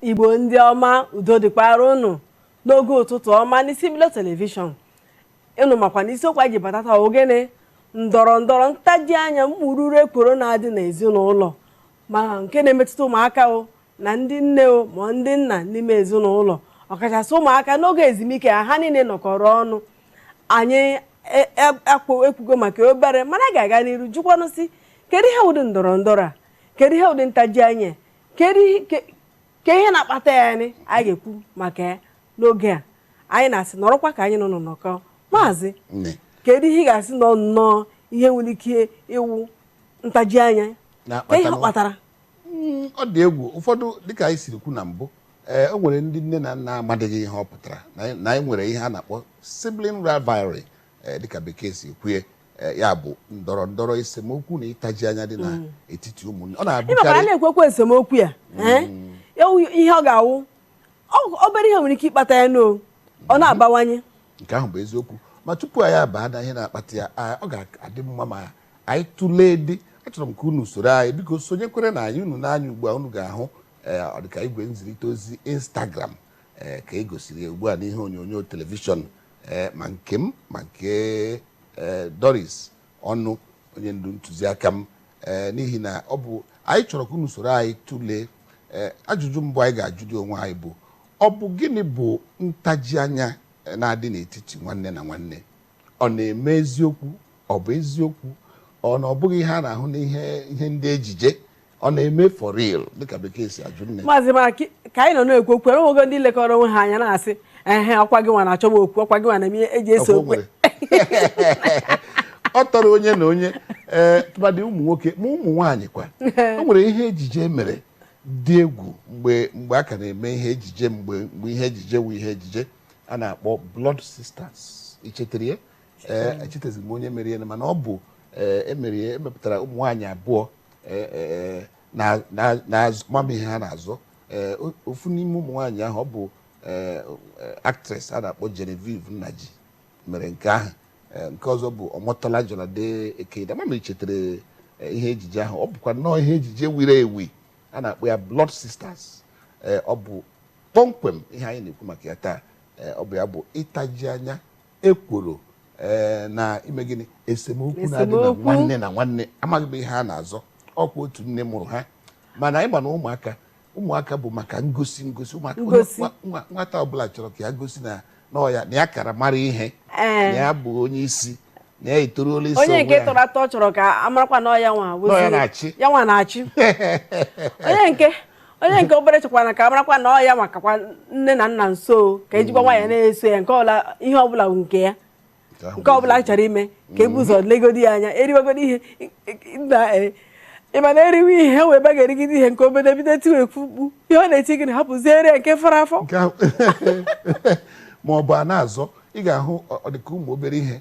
igbo ndị ọma udo dịkwara unu n'oge ụtụtụ ọma n'isi mbido telivishọn unu makwa na isiokwu anyị ji batata ọ gịnị ndọrọ ndọrọ ntaji anya mkpụrụ ekworo na-adị n'ezinụlọ ma nke na-emetụta ụmụaka o na ndị nne o ma ndị nna n'ime ezinụlọ ọkachasị ụmụaka n'oge ezumike ha ha niile nọkọrọ ọnụ anyị e- e- akwo- ekwugo maka obere mana a ga-aga n'iru jụkwanụ sị kedu ihe ụdị ndọrọ ndọrọ a kedu ihe ụdị ntaji anya kedu ihe- ke- ke ihe na-akpata ya anyị anyị ga-ekwu maka ya n'oge a anyị na-asị nọrọkwa ka anyị na unu nọkọ maazị Nne. kedu ihe ị ga-asị nọ nnọọ ihe nwere ike ịwụ ntaji anya ke ihe kpatara Mm, ọ dị egwu ụfọdụ dịka anyị siri kwu na mbụ ee o nwere ndị nne na nna amadịghị ihe ọ pụtara na anyị- na anyị nwere ihe a na-akpọ sibling rivalry ee, dịka bekee si kwue ee, ya bụ ndọrọ ndọrọ esemokwu na ịtaji anya dị na etiti ụmụnne ọ ị makwa a na-abụkarị na-ekwukwa esemokwu ya ee? Ewu ihe ọ ga-awụ ọ- obere ihe nwere ike ịkpata ya na ọ na-abawanye nke ahụ bụ eziokwu ma tupu anyị abaa na ihe na-akpata ya a- ọ ga-adị mma ma anyị tụlee dị achọrọ m ka unu soro anyị biko sonyekwerenụ anyị unu nee anya ugbu a unu ga-ahụ ee, ọ dịka igwe nzirịta ozi instagram ee, ka e gosiri ya ugbu a n'ihe onyonyo telivishọn ee, ma nke m ma nke ee, doris ọnụ onye ndu ntụziaka m ee, n'ihi na ọ bụ anyị chọrọ ka unu soro anyị tụlee ee, ajụjụ mbụ anyị ga-ajụ dị onwe anyị bụ ọ bụ gịnị bụ ntaji anya ee, na-adị n'etiti nwanne na nwanne ọ na-eme eziokwu Ọ bụ eziokwu ọ na ọ bụghị ihe a na-ahụ n'ihe ihe ndị ejije ọ na-eme for real dịka bekee si ajụ nne maazị ị mara ki- ka anyị nọ na-ekwu okwu e nwego ndị lekọrọ onwe ha anya na-asị ehe ọkwa gị nwa na-achọ m okwu ọkwa gị nwa na-eme ihe e ji ese okwu ọ tọrọ onye na onye ee tụmadị ụmụ nwoke ma ụmụ nwaanyị kwa o nwere ihe ejije mere dị egwu mgbe mgbe a ka na-eme ihe ejije mgbe mgbe ihe ejije wụ ihe ejije a na-akpọ blood sisters i chetere ya ee echetazi m onye mere ya mana ọ bụ ee, emere ya emepụtara ụmụ nwaanyị abụọ ee, ee, na- na- na-azọ ama m ihe ha na-azọ Ee, o- ofu n'ime ụmụ nwaanyị ahụ ọ bụ ee, ee, actress a na-akpọ Genevieve Nnaji mere nke ahụ Ee, nke ọzọ bụ Omotola Jalade Ekeinde ama m ma i chetara ee, ihe ejije ahụ ọ bụkwa nnọọ ihe ejije wiri ewi a na-akpọ ya Blood Sisters Ee, ọ bụ kpọmkwem ihe anyị na-ekwu maka ya taa Ee, ọ bụ ya bụ ịtaji anya e kwuru ee, na ime gịnị esemokwu na-adị na Esemokwu. nwanne na nwanne amaghị m ihe a na-azọ ọkwa otu nne mụrụ ha mana anyị ma na ụmụaka ụmụaka bụ maka ngosi ngosi ụmụaka Ngosi. nwa- nwa- nwata ọbụla chọrọ ka ya gosi na na ọ ya na ya kara mara ihe Ee. na ya bụ onye isi na ya etoruola isi onye onwe nke ya. tọrọ atọ chọrọ ka a marakwa na ọ ya nwa Nọ ya wezuru- na-achị. ya nwa na-achị onye nke onye nke obere chọkwanụ ka a marakwa na ọ ya makakwa nne na nna nso ka e jikwa nwayọ na-eso ya nke ọbụla ihe ọbụla bụ nke ya nke ọbụla a chọrọ ime ka e bu ụzọ legodi ya anya e riwegodi ihe na e ị ma na e riwe ihe ha wee ba ga-erigide ihe nke obere bido tiwe mkpu ihe ọ na-eti gị na hapụziere ya nke fọrọ afọ Nke ahụ- ma ọ bụ a na-azọ ị ga-ahụ ọ- ọ dị ka ụmụ obere ihe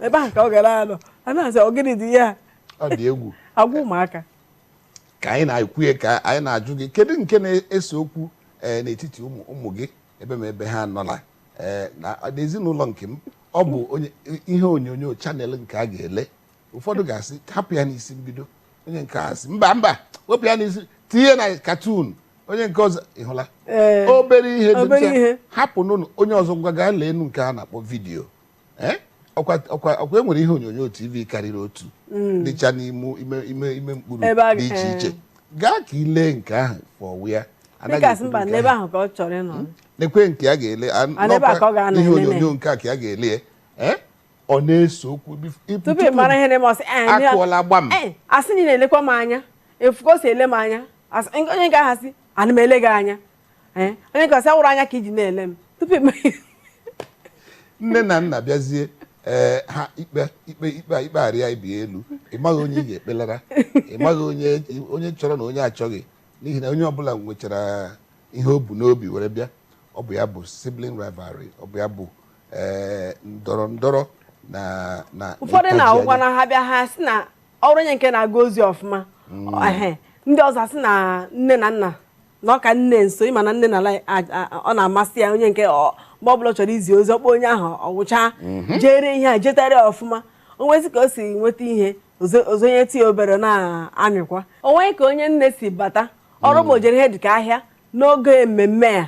ebe ahụ ka ọ gara anọ a na-asị ọ gịnị dị ihe a ọ dị egwu agwa ụmụaka ka anyị na-ekwu ya ka anyị na-ajụ gị kedu nke na-ese okwu eh, n'etiti ụmụ ụmụ gị ebe ma ebe ha nọla eh, na n'ezinụlọ nke m ọ bụ onye- ihe onyonyo channel nke a ga-ele ụfọdụ ga-asị hapụ ya n'Isi Mbido onye nke a sị mba mba wepụ ya n'isi tinye na cartoon onye nke ọzọ ị hụla Ee, obere ihe dị obere ncha, ihe. hapụ n'ụlọ onye ọzọ ngwa gaa leenụ nke a na-akpọ video Eh? ọkwa ọkwa ọkwa e nwere ihe onyonyo tv karịrị otu mm. dịcha n'ime ime ime ime mkpuru dị iche eh. iche gaa ka ị lee nke ahụ fọwụ ya hmm? nekwe nke a ga-ele ihe onyonyo nke a ka a ga-ele eh? ọ na-ese okwu akụọla gbam a sị na ị na-elekwa m anya ị fụ ka o si ele m anya onye nke ahụ sị ana m ele gị anya Eh, onye nke a sị awụrụ anya ka i ji na-ele m tupu ime nne na nna bịazie ee eh, ha ikpe ikpe ikpe ikpe arịa ibe ya elu ị maghị onye ị ga-ekpelara ị maghị onye onye chọrọ na onye achọghị n'ihi na onye ọbụla nwechara ihe o bu n'obi were bịa ọ bụ ya bụ sibling rivalry ọ bụ ya bụ ee eh, ndọrọ ndọrọ na na ụfọdụ na-awụkwa na ha bịa ha sị na ọ wụrụ onye nke na-aga ozi ọfụma mm. ndị ọzọ sị na nne na nna na ọ ka nne nso ị ma na nne na ala ọ na-amasị ya onye nke ọ- mgbe ọbụla ọ chọrọ izi ozi ọ kpọ onye ahụ ọ gwụcha jere ihe a jetara ya ọfụma o nwezi ka o si nweta ihe ozo- o zonyetụ ya obere na-emekwa o nwee ka onye nne si bata ọrụ ma o jere ihe dịka ahịa n'oge mmemme a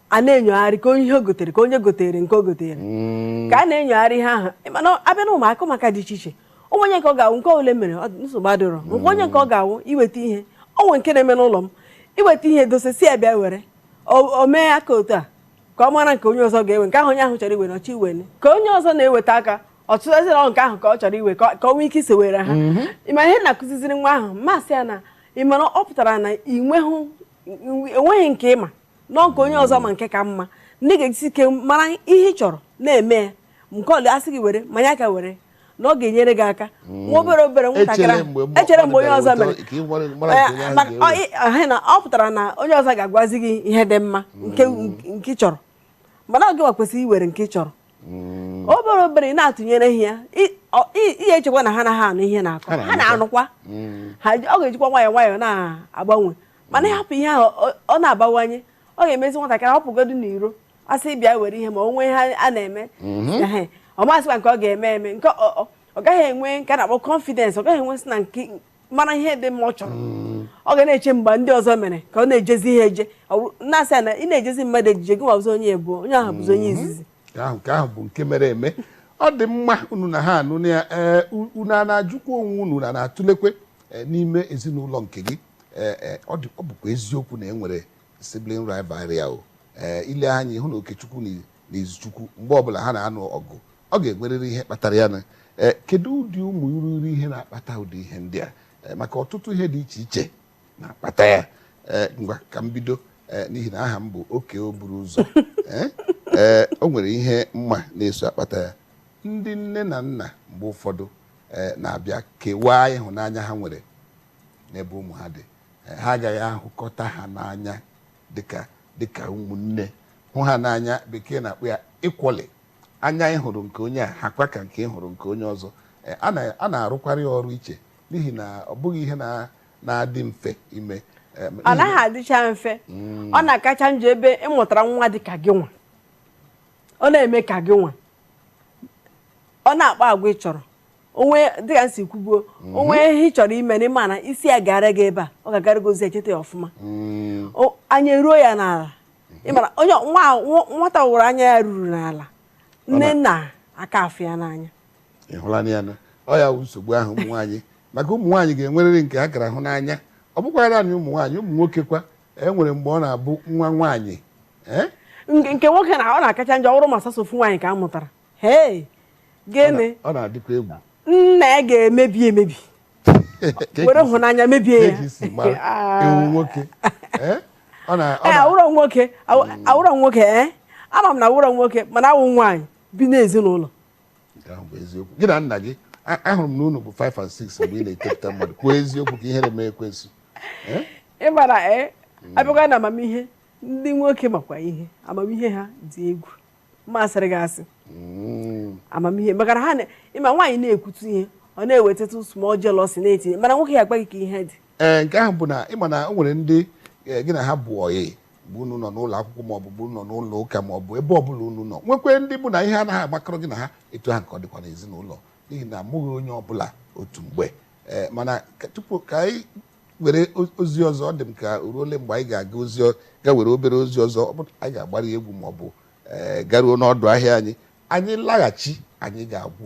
a na-enyogharị ka onye ihe o gotere ka onye gotere nke o gotere ka a na-enyogharị ihe ahụ mana a bịa na ụmụaka ụmụaka dị iche iche o nwe onye nke ọ ga-awụ nke ole mere nsogbu adịrọ nke onye nke ọ ga-awụ iweta ihe o nwere nke na-eme n'ụlọ m iweta ihe dosa sị ya bịa were o mee aka otu a ka ọ mara nke onye ọzọ ga-ewe nke ahụ onye ahụ chọrọ iwe na ọ chọ iwe ka onye ọzọ na-eweta aka ọtụtụ ezinụlọ nke ahụ ka ọ chọrọ iwe ka ọ nwee ike isewere ha mhm. ị ma ihe na-akụziziri nwa ahụ ma sị ya na ị mara ọ pụtara na enweghị nke ị ma na ọ nke onye ọzọ ma nke ka mma na ị ga-ejisi ike mara ihe ị chọrọ na-eme ya nke ọlụ asị gị were manya ka were na ọ ga-enyere gị aka hmm. nwa obere obere nwatakịrị echere mgbe onye ọzọ mere eh, na ọ pụtara na onye ọzọ ga-agwazi gị ihe dị mma nke hmm. ị chọrọ mana ọ gịnwa kwesịrị iwere nke ị chọrọ hmm. obere obere ị na-atụnyere ya ihe echekwa na ha anaghị anụ ihe a na-akọ ha na-anụkwa ọ ga-ejikwa nwayọọ nwayọọ na-agbanwe mana ị hapụ ihe ahụ ọ na-abawanye ọ ga-emezi nwatakịrị ọ pụgodu n'iro a sị bịa were ihe ma o nwee ihe a na-eme ehe, ọ masịkwa nke ọ ga-eme eme nke ọ- ọ- ọ gaghị enwe nke a na-akpọ confidence ọ gaghị enwe sị na nke mara ihe dị mma ọ chọrọ ọ ga na-eche mgbe ndị ọzọ mere ka ọ na-ejezi ihe eje Ọ bụrụ- na-asị ya na ị na-ejezi mmadụ ejije gị nwa bụzi onye ịbụọ onye ahụ bụzi onye izizi nke ahụ nke ahụ bụ nke mere eme ọ dị mma unu na ha anụ na ya ee u- unu ana-ajụkwa onwe unu na na-atụlekwe ee, n'ime ezinụlọ nke gị ee ee, ọ dị- ọ bụkwa eziokwu na e nwere sibling rivalry ahụ ee eh, i lee anya ị hụ na Okechukwu na Izuchukwu mgbe ọbụla ha na-anụ ọgụ ọ ga-enwerịrị ihe kpatara ya na eh, kedu ụdị ụmụ iruru ihe na-akpata ụdị ihe ndị a eh, maka ọtụtụ ihe dị iche iche na-akpata ya ngwa ka m bido n'ihi na aha m bụ oke oburu ụzọ ee o nwere ihe m ma na-eso akpata ya ndị nne na nna mgbe ụfọdụ na-abịa kewaa ịhụnanya ha nwere n'ebe ụmụ ha dị Ha agaghị ahụkọta ha n'anya dịka dịka ụmụnne, hụ ha n'anya, Bekee na-akpọ ya equally. Anya ị hụrụ nke onye a hakwa ka nke ị hụrụ nke onye ọzọ. Eh, A na- a na-arụkwarị ya ọrụ iche n'ihi na ọ bụghị ihe na- na-adị mfe ime. Eh, ọ n'ihi- naghị adịcha mfe ọ na-akacha njọ ebe ị mụtara nwa dị ka gị nwa ọ na-eme ka gị nwa ọ na-akpa agwa ị chọrọ o nwe dịka m si kwubuo mhm. o nwee ihe ị chọrọ ime n'ime ana ị sị ya gara gị ebe a ọ ga-agara gị ozi echeta ya ọfụma mm. anya eruo ya n'ala mhm. ị mara onye nwata wụrụ anya ya ruru n'ala nne nna aka afụ ya n'anya ị hụla na ya na ọ ya nsogbu ahụ ụmụ nwaanyị maka ụmụ nwaanyị ga-enwerịrị nke a kara hụ n'anya ọ bụkwa naanị ụmụ nwaanyị ụmụ nwoke kwa e nwere mgbe ọ na-abụ nwa nwaanyị e? nke nwoke na ọ na-akacha njọ ọ wụrụ ma sọsọ ofu nwaanyị ka a mụtara Hey, gịnị? Ọ na-adịkwa egwu. Nna ya ga-emebi emebi. Were hụnanya mebie ya. Ị wụ nwoke. Eh? Eh, awụrọ nwoke hmm. awụrọ nwoke ee eh? ama m na ị wụrọ nwoke mana ị wụ nwaanyị bi n'ezinụlọ gị na nna gị ahụrụ m na unu bụ 5 and 6 mgbe ị na-etopụta mmadụ kwuo eziokwu ka ihere mee ekwensu ị mara ee abịakwa na amamihe ndị nwoke makwa ihe amamihe ha dị egwu masịrị gị asị mm. amamihe maka na ha ị ma nwaanyị na-ekwutu ihe ọ na-ewetatụ small jealousy na-etinye mana nwoke ya agwa gị ka ihe dị ee eh, nke ahụ bụ na ị ma na o nwere ndị eh, gị na ha bụ ọyị bụ unu nọ n'ụlọ akwụkwọ maọbụ unu nọ n'ụlọ ụka maọbụ ebe ọbụla unu nọ nwekwe ndị bụ na ihe anaghị agbakọrọ gị na ha etu ahụ ka ọ dịkwa n'ezinụlọ n'ihi na amụghị onye ọbụla otu mgbe eh, mana tupu ka anyị were ozi ọzọ ọ dị m ka o ruole mgbe anyị ga-aga ga were obere ozi ọzọ ọ bụ anyị ga-agbara egwu ma ọ bụ eh, garuo n'ọdụ ahịa anyị anyị laghachi anyị ga-agwụ